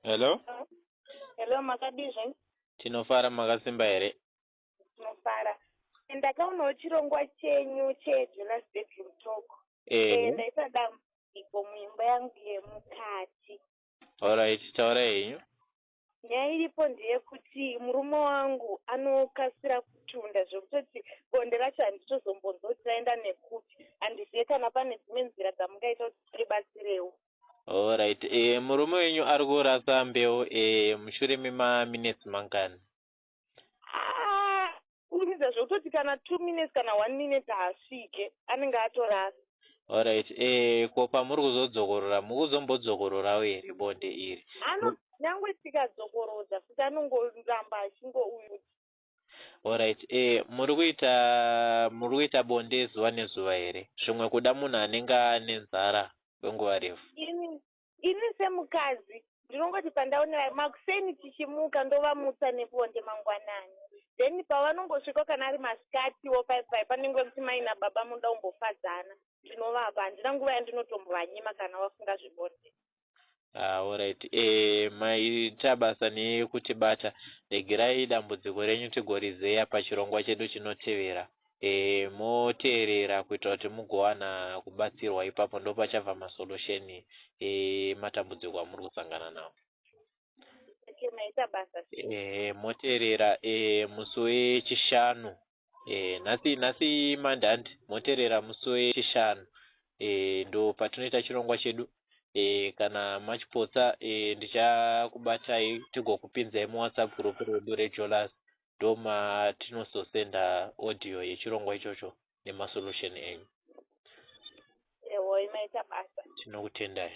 hello hello makadizve tinofara makasimba here tinofara ndakaonawo chirongwa chenyu chejonas bedroom talk eh, ndaisa dambudziko muimba yangu yemukati allright taurai henyu Nyaya iripo ndeyekuti murume wangu anokasira kutunda zvekutoti bonde racho handitozombonzwa kuti raenda nekupi. Handizive kana pane dzimwe nzira dzamungaita kuti tiribatsirewo. Horaiti eeh murume wenyu ari kurasa mbeu eeh mushure memaminetsi mangani? haa kuburitsa zvekutoti kana two minutes kana one minute haasvike anenge atorasa Alright, eh, ko pamuri kuzodzokorora mukuzombodzokororawo here bonde iri? Ano nyangwe tikadzokorodza futi anongoramba achingouyuti. Alright, eh, muri kuita muri kuita bonde zuva nezuva here? Zvimwe kuda munhu anenge ane nzara kwenguva refu. Ini Ini semukadzi ndinongoti pandaonera makuseni tichimuka ndovamutsa nebonde mangwanani then pavanongosvikawo kana ari masikatiwo paye paye panenge kuti mai nababa munoda kumbofadzana ndinovapa handina nguva yandinotombovanyima kana vafunga zvebonde. Ah alright eh maita basa nekutibata regerai dambudziko renyu tigorizeya pachirongwa chedu chinotevera. moteerera kuitira kuti mugowana kubatsirwa ipapo ndopachabva masolution ematambudziko amuri kusangana nawo moteerera musi wechishanu nhasi nhasi mande handi moteerera musi wechishanu ndo patinoita chirongwa chedu kana machipotsa ndichakubatai tigokupinzai muwhatsapp group redu rejolas ndomatinozosender audio yechirongwa ichocho nemasolution enyu. Ehoi maita basa. Tinokutendai.